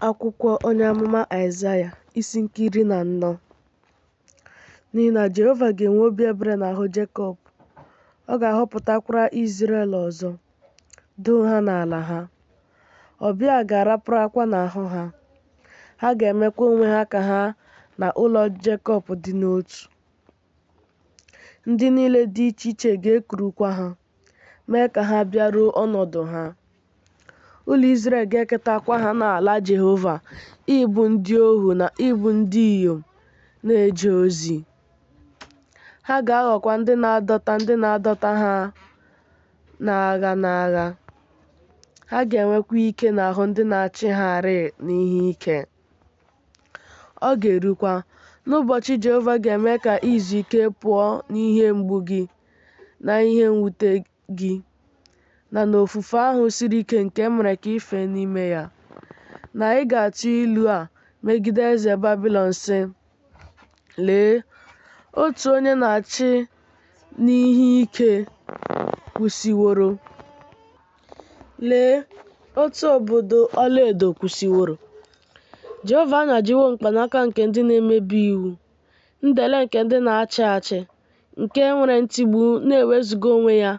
Akwụkwọ onye amụma Aịzaya isi nke iri na anọ n'ihi na Jehova ga-enwe obi ebere n'ahụ Jekọb, ọ ga-ahọpụtakwara Izrel ọzọ, doo ha n'ala ha. Ọbịa ga-araparakwa n'ahụ ha, ha ga-emekwa onwe ha ka ha na ụlọ Jekọb dị n'otu. Ndị niile dị iche iche ga-ekurukwa ha, mee ka ha bịaruo ọnọdụ ha. Ụlọ Izrel ga-eketakwa ha n'ala Jehova ịbụ ndị ohu na ịbụ ndị inyom na-eje ozi. Ha ga-aghọkwa ndị na-adọta ndị na-adọta ha n'agha n'agha. Ha ga-enwekwa ike n'ahụ ndị na-achị ha rịị n'ihe ike. Ọ ga-erukwa n'ụbọchị Jehova ga-eme ka i zuo ike pụọ n'ihe mgbu gị na ihe mwute gị na n'ofufe ahụ siri ike nke e mere ka i fee n'ime ya, na ị ga-atụ ilu a megide eze Babilọn, sị, Lee, otu onye na-achị n'ihe ike kwụsịworo. Lee otu obodo ọlaedo kwụsịworo! Jehova anyajiwo mkpanaka nke ndị na-emebi iwu, ndele nke ndị na-achị achị, nke nwere ntigbu na-ewezuga onwe ya,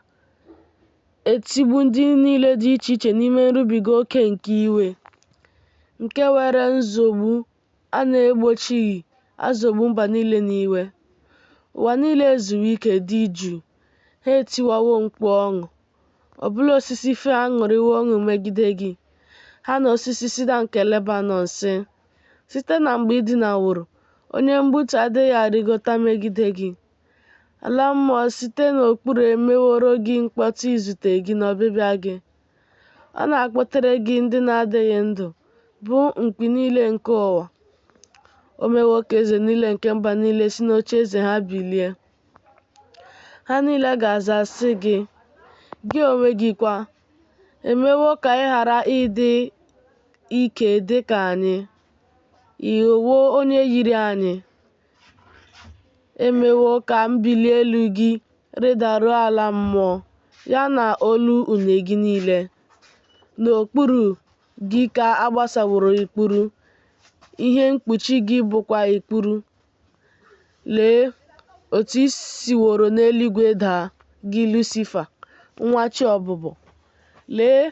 etigbu ndị niile dị iche iche n'ime nrubiga oke nke iwe, nke were nzọgbu A na-egbochighị azọgbu mba niile n'iwe. Ụwa niile ezuwo ike dị jụụ, ha etiwawo mkpu ọṅụ. Ọbụla osisi fir aṅụrịwo ọṅụ megide gị, ha na osisi sida nke Lebanọn, sị, Site na mgbe ị dinaworo, onye mgbutu adịghị arịgota megide gị. Ala mmụọ site n'okpuru emeworo gị mkpọtụ izute gị n'ọbịbịa gị. Ọ na-akpọtere gị ndị na-adịghị ndụ, bụ mkpi niile nke ụwa. O mewo ka eze niile nke mba niile si n'oche eze ha bilie. Ha niile ga-aza sị gị, gị onwe gị kwa, e mewo ka ị ghara ịdị ike dị ka anyị. Ị ghọwo onye yiri anyị, e mewo ka mbili elu gị rịdaruo ala mmụọ, ya na olu une gị niile. N'okpuru gị ka a gbasaworo ikpuru, ihe mkpuchi gị bụkwa ikpuru. Lee otu i siworo n'eluigwe daa, gị Lusifa, nwa chi ọbụbọ! Lee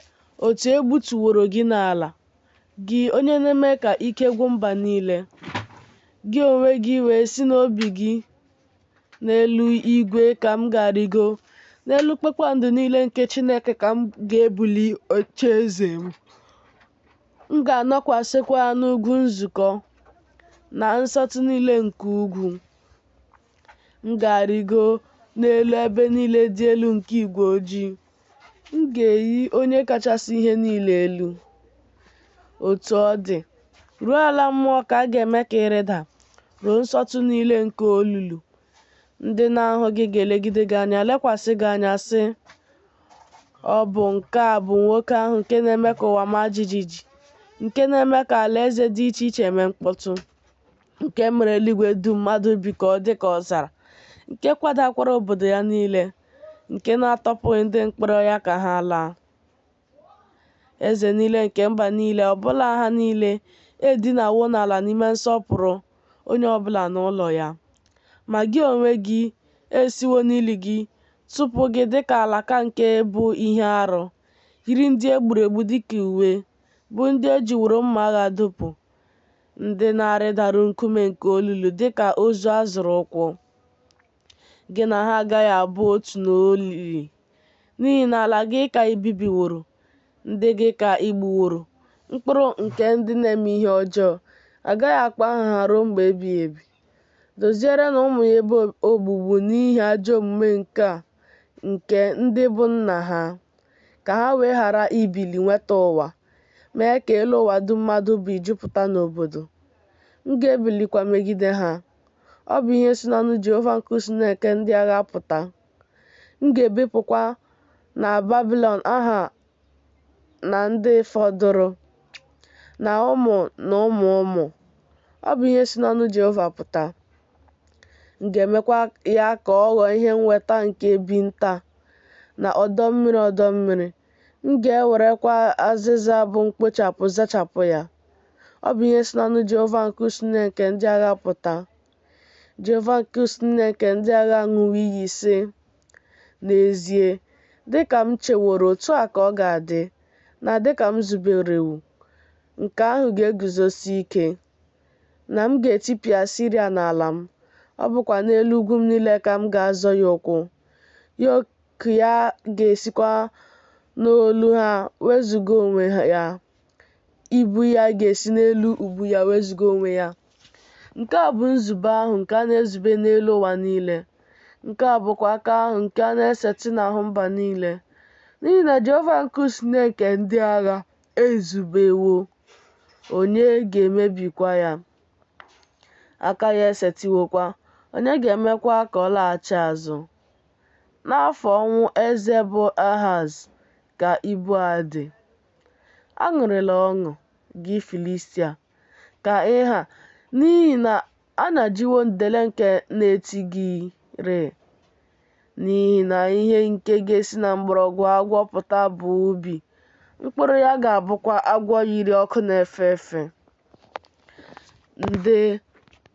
otu e gbutuworo gị n'ala, gị onye na-eme ka ike gwụ mba niile, gị onwe gị wee sị n'obi gị n'elu igwe ka m ga-arịgo, n'elu kpakpando niile nke Chineke ka m ga-ebuli oche eze m. M ga-anọkwasịkwa n'ugwu nzukọ na nsọtụ niile nke ugwu. M ga-arịgo n'elu ebe niile dị elu nke igwe ojii. M ga-eyi Onye kachasị ihe niile elu. Otu ọ dị, ruo ala mmụọ ka a ga-eme ka ị rịda, ruo nsọtụ niile nke olulu. Ndị na-ahụ gị ga-elegide gị anya, lekwasị gị anya, sị, Ọ bụ nke a bụ nwoke ahụ nke na-eme ka ụwa maa jijiji, nke na-eme ka alaeze dị iche iche mee mkpọtụ. nke mere eluigwe dum mmadụ bi ka ọ dị ka ọzara, nke kwadakwara obodo ya niile, nke na-atọpụghị ndị mkpọrọ ya ka ha laa. Eze niile nke mba niile, ọbụla ha niile, edinawo n'ala n'ime nsọpụrụ, onye ọbụla n'ụlọ ya. Ma gị onwe gị, e siwo n'ili gị tụpụ gị dịka alaka nke bụ ihe arụ, yiri ndị e gburu egbu dịka uwe, bụ ndị e jiworo mma agha dụpụ. ndị na-arịdaru nkume nke olulu dị ka ozu a zọrọ ụkwụ. Gị na ha agaghị abụ otu n'olili, n'ihi na ala gị ka i bibiworo, ndị gị ka i gbuworo, mkpụrụ nke ndị na-eme ihe ọjọọ, a gaghị akpọ aha ha ruo mgbe ebighị ebi. Dozierenụ ụmụ ya ebe ogbugbu n'ihi ajọ omume nke nke ndị bụ nna ha, ka ha wee ghara ibili nweta ụwa. mee ka elu ụwa dum mmadụ bi jupụta n'obodo. M ga-ebilikwa megide ha. Ọ bụ ihe si n'ọnụ Jehova nke usu niile nke ndị agha pụta. M ga-ebipụkwa na Babilọn aha na ndị fọdụrụ, na ụmụ na ụmụ ụmụ. Ọ bụ ihe si n'ọnụ Jehova pụta. M ga-emekwa ya ka ọ ghọọ ihe nnweta nke ebi nta na ọdọ mmiri ọdọ mmiri. M ga-ewerekwa azịza bụ mkpochapụ zachapụ ya. Ọ bụ ihe si n'ọnụ Jehova nke usu niile nke ndị agha pụta. Jehova nke usu niile nke ndị agha aṅụwo iyi, sị, N'ezie, dị ka m cheworo otu a ka ọ ga-adị, na dị ka m zuberewo, nke ahụ ga-eguzosi ike, na m ga-etipịa Asiria n'ala m, ọ bụkwa n'elu ugwu m niile ka m ga-azọ ya ụkwụ ka ya ga-esikwa n'olu ha wezụga onwe ya, ibu ya ga-esi n'elu ubu ya wezụga onwe ya. Nke a bụ nzube ahụ nke a na-ezube n'elu ụwa niile, nke a bụkwa aka ahụ nke a na-esetị n'ahụ mba niile, n'ihi na Jehova nke usu niile nke ndị agha ezubewo, onye ga-emebikwa ya? Aka ya esetịwokwa, onye ga-emekwa ka ọ laghachi azụ? N'afọ ọnwụ eze bụ Ahaz ka ibu a dị. Aṅụrịla ọṅụ, gị Filistia, ka ị ha, n'ihi na a nyajiwo ndele nke na-eti gị rịị. N'ihi na ihe nke ga-esi na mgbọrọgwụ agwọ pụta bụ ubi, mkpụrụ ya ga-abụkwa agwọ yiri ọkụ na-efe efe. Ndị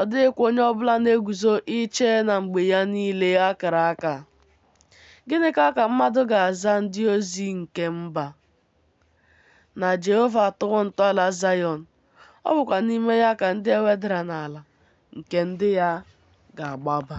Ọ dịghịkwa onye ọ bụla na-eguzo iche na mgbe ya niile a kara aka. Gịnịkwa ka mmadụ ga-aza ndị ozi nke mba? Na Jehova atọwo ntọala Zayọn, ọ bụkwa n'ime ya ka ndị e wedara n'ala nke ndị ya ga-agbaba.